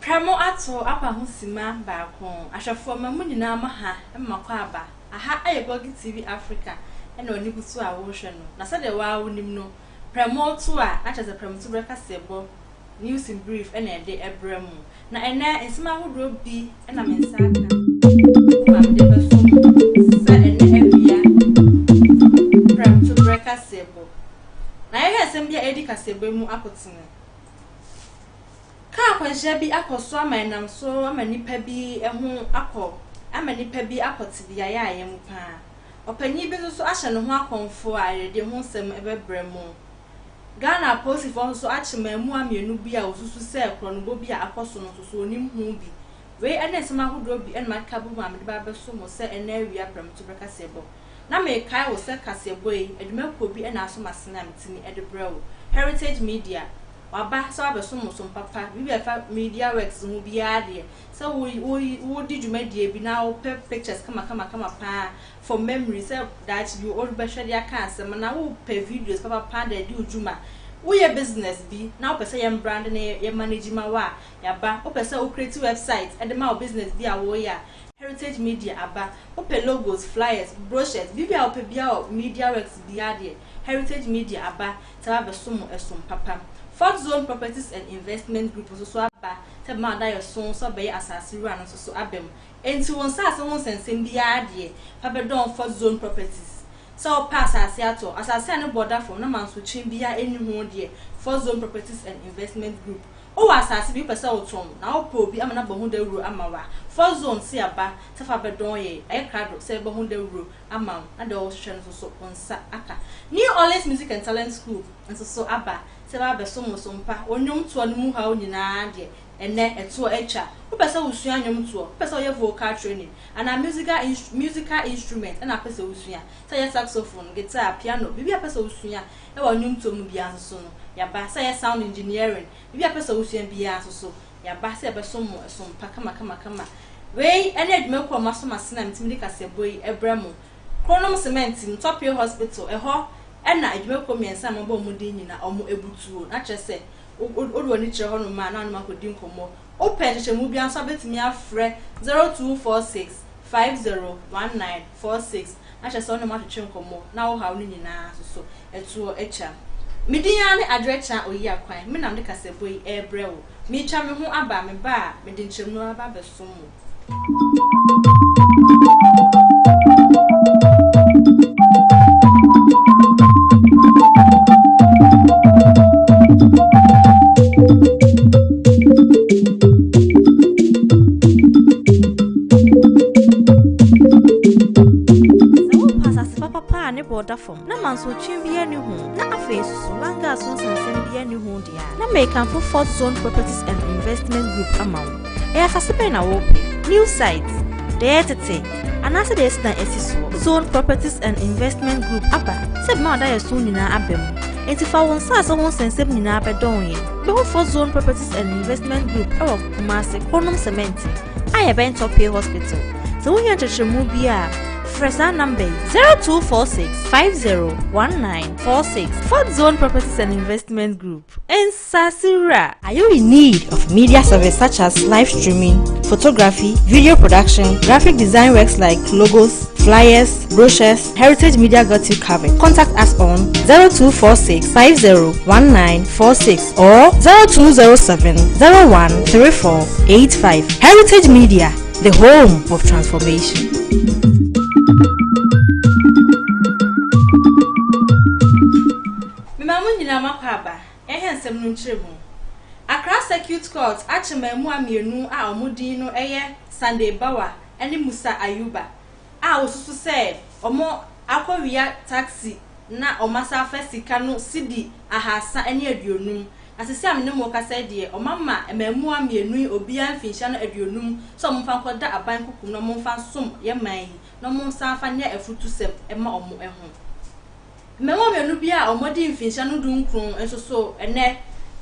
Pra mo ato apa ho simma baako. Ahwɛfoɔ ma mo nyinaa mo ha ma kɔ aba. Aha yɛ Boggy TV Africa na w'ani bu so a worehwɛ no. Na sɛdeɛ wo ara wonim no, pra mo to a na kyerɛ sɛ pra mo to berɛ kaseɛbɔ, news in brief, na yɛde brɛ mo. Na ɛnnɛ nsɛm ahodoɔ bi na me nsa aka gu a mede bɛto mo sɛ ɛnnɛ awia pra mo to berɛ kaseɛbɔ. Na yɛhwɛ nsɛm bi a ɛredi kaseɛbɔ mu akotene. Ka akwanhyia bi akɔ so ama ɛnam so ama nnipa bi ho akɔ ama nnipa bi akɔ te beaeɛ a ɛyɛ mo paa. Ɔpanyin bi nso so ahyɛ ne ho akɔmfo a ayɛyɛdeɛ ho nsɛm bɛbrɛ mo. Ghana apolisifoɔ nso so akye mmaamua mmienu bi a wɔsusu sɛ korɔnobɔ bi a akɔ so no nso so wɔnim ho bi. Wei ne nsɛm ahodoɔ bi na makeka abom a mede ba abɛso mo sɛ ɛnnɛ awia prɛmtoberɛ kaseɛbɔ. Na mekae wo sɛ kaseɛbɔ yi adwuma kuo bi na aso m'asene a metumi de brɛ wo, Heritage Media, waba sɛ wabɛsom wo som papa, biribi a ɛfa Media Works ho biara deɛ, sɛ wo wo wodi dwumadie bi na wopɛ pictures kamakamakama paa for memory sɛ daakye bi worebɛhwɛ de aka asɛm anaa wopɛ videos papapaa de adi wo dwuma, woyɛ business bi na wopɛ sɛ yɛn brande na yɛ manage ma wo a, Yaba, Wopɛ sɛ wo create website de ma wo business bi a woreyɛ a, Heritage Media aba. Wopɛ logos, flyers, brochures, biribi a wopɛ biara wɔ media works biara deɛ, Heritage Media aba sɛ bɛabɛsom wo ɛsom papa. Fourth Zone Properties and Investment Group nso so aba sɛ bɛma wo adaeɛso sɛ wobɛyɛ asase wura no nso so aba mu. Enti wo nsase ho nsɛnsɛm biara deɛ, fa bɛdɔn Fourth Zone Properties. Sɛ wopɛ asase atɔ, asase a ne boɔ da fam na mansotwe biara nni ho deɛ, Fourth Zone Properties and Investment Group Wowɔ asaase bi wopɛ sɛ wotɔn na wopɛ obi ama no abɔ ho dawuro ama wo a, Fourth Zone se aba sɛ fa bɛdɔn yɛ ɛyɛ krado sɛ yɛbɔ ho dawuro ama wo na deɛ wohwehwɛ no nso so wo nsa aka. New Orleans Music and Talent School nso so aba sɛ ɛbɛba abɛsom wo so mpa wo nnwomtoɔ no mu haw nyinaa deɛ ɛnnɛ ɛtoɔ atwa. Wopɛ sɛ wosua nnwomtoɔ? Wopɛ sɛ woyɛ vocal training? Anaa musical instru musical instrument na wopɛ sɛ wosua sɛ yɛ saxophone, guitar, piano, biribi a wopɛ sɛ wosua Wɔ nnwontoɔ mu biara nso so no, yɛaba sɛ ɛyɛ sound engineering, biribi a wopɛ sɛ wosua biara nso so, yɛaba sɛ yɛbɛsom mo som pa kamakamakama. Wei ne adwuma kuo a moaso m'asene a metumi de kaseɛbɔ yi brɛ mo. Kronom Cement mu, Tɔpee Hospital, ɛhɔ na adwuma kuo mmiɛnsa a mabɔ wɔn din nyina wɔbutuo. Na kyerɛ sɛ, wode w'ani kyerɛ hɔnom a, na wo ne wɔn akɔdi nkɔmmɔ. Wopɛ nhyehyɛmu biara nso a, wobɛtumi afrɛ 0246 5019. four six na kyerɛ sɛ wo ne wɔn atwetwe nkɔmmɔ na wo haw no nyinaa nso so ɛtoɔ atwa. Me din ara ne Adwoakyea Oyiakwan, me na mede kasabuo yi ɛrebrɛ wo. Meretwa me ho aba, me ba a, mede nkyɛmu aba abɛsom wo. Sɛ worepɛ asase papa paa a ne boɔ da fam, na mansotweɛ biara nni ho, na afei nso langaa so nsansɛm biara nni ho deɛ a, na merekamfo Fourth Zone Properties and Investment Group ama wo. Ɛyɛ asase bɛn na worepɛ? New site? Deɛ ɛyɛ tete? Anaasɛ deɛ yɛasi dan asi soɔ? Fourth Zone Properties and Investment Group aba sɛ ɛbɛma w'adayɛso nyinaa aba mu. Enti fa wo nsaase ho nsɛnsɛm nyinaa bɛdɔn yɛn. Bɛhu Fourth Zone Properties and Investment Group wɔ Kumasi, Kronom Semɛnte. a yɛbɛn Tɔpee Hospital. Sɛ wohia nkyerɛkyerɛmu bi a, frɛ saa namba yi 0246 501946 Fort Zone Properties and Investment Group. Nsasura. Are you in need of media service such as live streaming, photography, video production, graphic design works like logos, flyers, brochures, Heritage Media got you covered. Contact us on 0246 501946 or 0207 013485. Heritage Media, the home of transformation. Mmamu nyinaa makɔ aba, ɛhɛ nsɛm no nkyerɛ mu. Accra Circuit Court akyɛ mmaamua mmienu a wɔn din no yɛ Sunday Bawa ne Musa Ayuba a wosusu sɛ wɔakowia taksi na wɔasan afa sika no cedi ahaasa ne aduonum. Na seesei a me ne mo rekasa yi deɛ, wɔama mmaamua mmienu yi obiara mfinhyia no aduonum sɛ wɔmfa nkɔda aban kuku mu na wɔmfa nsom yɛn man yi na wɔnsan mfa nyɛ afutusɛm mma wɔn ho. Mmarima mmienu bi a wɔadi mfinhyia no dunkron nso so nnɛ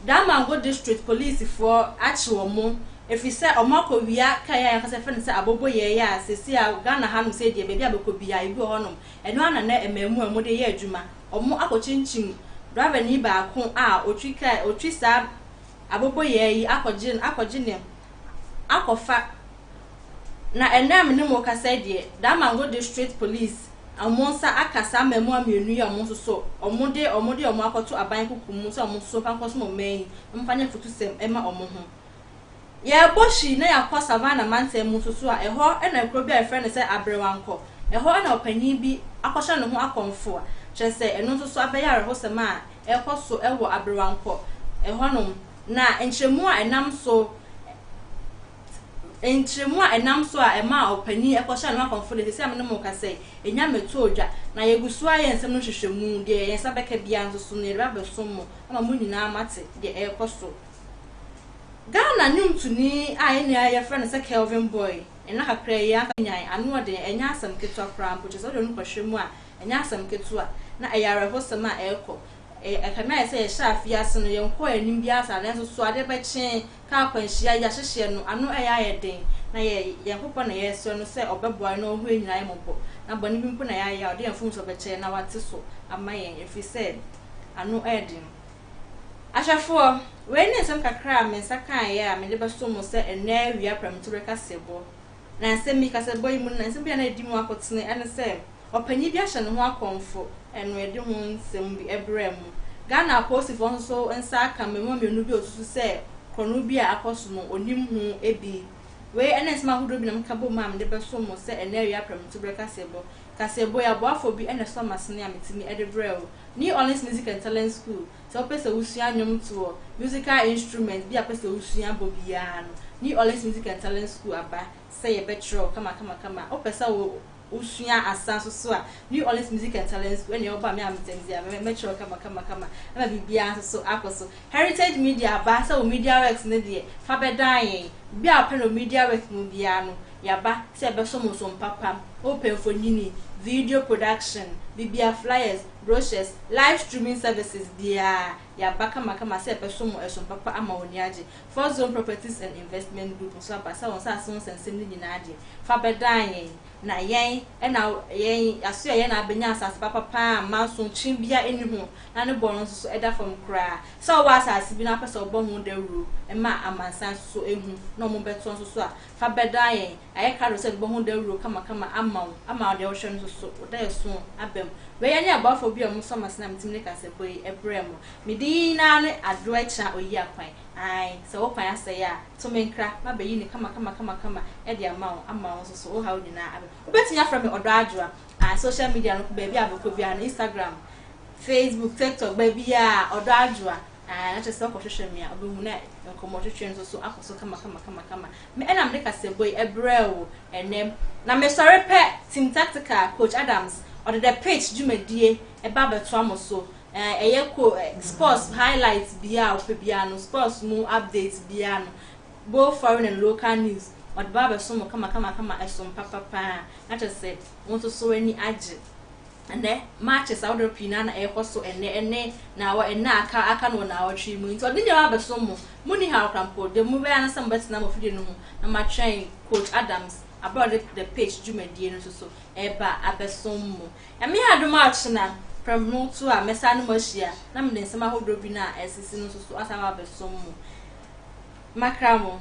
Damango District Policefoɔ akye wɔn ɛfiri sɛ wɔakɔ wia kaa yi a yɛankasa yɛfrɛ no sɛ aboboyɛɛ yi a seesei a Ghana hanom sei deɛ baabi a bɛkɔ biara ebi wɔ hɔnom ɛno ara na nnɛ mmaamuwa a wɔde yɛ adwuma wɔn akɔkyinkyim drivernii baako a ɔtwi kaa ɔtwi saa aboboyɛɛ yi akɔgye akɔgye ne akɔfa Na ɛnnɛ a me ne mo rekasa yi deɛ, Damongo District Police wɔn nsa aka saa mmaamua mmienu yi a wɔn nso so wɔde wɔde wɔn akɔto aban kuku mu sɛ wɔn nso so mfa nkɔsom ɔman yi, mfa nyɛ afutusɛm mma wɔn ho. Yɛrebɔ hwi na yɛakɔ Savannah mantam mu nso so a, ɛhɔ na kuro bi a yɛfrɛ no sɛ Aberewankɔ, ɛhɔ na ɔpanyin bi akɔhyɛ ne ho akɔmfoa, kyerɛ sɛ ɛno nso so abɛyɛ awerɛhosɛm a ɛrekɔ so wɔ Aberewankɔ hɔnom, na nkyerɛmu a ɛnam so. Nkyeremu a ɛnam so a ɛmaa ɔpanyin kɔhyɛɛ ne ho akɔmfo de, seesei a me ne mo rekasa yi, nya me too dwa. Na yegu so ara yɛ nsɛm no nhwehwɛmu. Deɛ yɛn nsa bɛka biara nso so no, yɛde ba abɛsom mo ama mo nyinaa moate deɛ ɛrekɔ so. Ghana nnwomtoni a yɛn nua yɛfrɛ no sɛ Kelvin Boy, nna kakra yi ankasa nyae ano ɔden, ɛnyɛ asɛm ketewa koraa mpo, kyerɛ sɛ wode wo ho kɔhwɛ mu a, ɛnyɛ asɛm ketewa. Na ɛyɛ awerɛhosɛm a ɛrekɔ. Ɛkame ayɛ sɛ yɛhyɛɛ afe yi ase no, yɛnkɔɔ anim biara saa, nanso so adeɛ bɛkye Ka akwanhyia yi ahyehyeɛ no ano ɛyɛ ayɛ den na yɛ Nyankopɔn na yɛresrɛ no sɛ ɔbɛboa yɛn na ɔhu yɛn nyinaa yɛ mmɔbɔ na bɔne bi mpo na yɛayɛ a ɔde yɛn mfomsoɔ bɛkyɛ yɛn na wate so ama yɛn ɛfiri sɛ ano ɛyɛ den. Ahwɛfoɔ, wei ne nsɛm kakra a me nsa kaeɛ a mede bɛso mo sɛ ɛnnɛ awia prɛmtoberɛ kaseɛbɔ. Na nsɛm yi, kaseɛbɔ yi mu no, nsɛm bi a na ɛdi mu akotene ɛne sɛ, Ɔpanyin bi ahyɛ ne ho akɔmfo anoɛde ho nsɛm bi brɛɛ mo. Ghana apolisifo nso nsa aka mmarima mmienu bi a wɔsusu sɛ korɔno bi a akɔ so no, wɔnim ho bi. Wei ne nsɛm ahodoɔ bi na meka bom a mede bɛso mo sɛ ɛnnɛ awia prɛmtoberɛ kaseɛbɔ. Kaseɛbɔ yi, aboafoɔ bi na ɛsɔ m'asene a metumi de brɛ wo. New Orleans Music and Talent School, Sɛ wopɛ sɛ wosua nnwomtoɔ, musical instrument, bi a wopɛ sɛ wosua bɔ biara no, New Orleans Music and Talent School aba sɛ yɛbɛkyerɛw kamakamakama a, wopɛ sɛ wosua asa nso so a, New Orleans Music and Talent School ɛne ɔba me a metɛ me dea me mɛkyerɛw kamakamakama ɛma biribiara nso so akɔ so. Heritage Media aba sɛ wo Media Works no deɛ fa bɛdan yɛn. Biribiara a wopɛ no wɔ Media Works mu biara no, yɛaba sɛ yɛbɛsom wo so mpapa. Wopɛ mfonini, video production, biribiara, flyers, brochures, live streaming services biara, yɛaba kamakama sɛ yɛbɛsom wo so mpapa ama w'ani agye. Fourth Zone Properties and Investment Group nso aba sɛ wɔn nsase ho nsɛnsɛm no nyinaa de, fa bɛdan yɛn, na yɛn na yɛn asoɛ yɛn na abɛnya asase papa pa ara a mmanso kyen biara nni ho, na ne bɔrɔ nso so ɛda fam koraa. Sɛ wowɔ asase bi na wopɛ sɛ wobɔ ho dawuro ma amansan nso so ahu na wɔbɛtoa nso so a, fa bɛdaa yɛn, ayɛ krado sɛ ɛbɛbɔ ho dawuro kamakama ama wo, ama wo deɛ wohwɛ no nso so, wo daeɛso aba mu. Wei ɛne aboafoɔ bi a wɔsɔ m'asene a metumi de kasabɔ yi brɛ mo. Me din yi no ara ne Adoɛkyena Oyiakwan. Ae, sɛ wo kwan asɛe a, to me nkra, mabɛyi no kamakama kamakama de ama wo, ama wo nso so, wo haw nyinaa aba mu. Wobɛtumi afrɛ me Ɔdɔ Adwoa. Ae, social media no, baabi a wobɛkɔ biara no, Instagram, Facebook, TikTok, baabiara, Ɔdɔ Adwoa. Aane, na kyerɛ sɛ ɔkɔhwehwɛ me a, ɔbɛhu na nkɔmmɔtwetwe no nso so akɔ so kamakamakama. Me na mede kasabɔ yi brɛɛ wo ɛnnɛ. Na mesɔre pɛ, Team Tactical, Coach Adams, ɔde The Pitch dwumadie ɛba abɛtoa mo so. Ɛyɛ ko sports highlights biara a wopɛ biara no, sports mu updates biara no, both foreign and local news, ɔde ba abɛso mo kamakamakama, ɛsom papapaa. Na kyerɛ sɛ wo nso so w'ani agye. Ɛnnɛ, marches ahodoɔ pii no ara na ɛrekɔ so ɛnnɛ ne naawɔ nna a aka aka no wɔ naawɔtwe yi mu. Enti ɔde nneɛma abɛsom mo. Monni haw koraa mpo. Deɛ mobɛyɛ ara ne sɛ mobɛtena mo afidie no ho na moatwɛn Coach Adams berɛ a ɔde The Pitch dwumadie no nso so reba abɛsom mo. Nyame adom a ɔkyena prɛmhno to a mɛsan ne mo ahyia na mede nsɛm ahodoɔ bi no a ɛresisi no nso so asan aba abɛsom mo. Makra mo.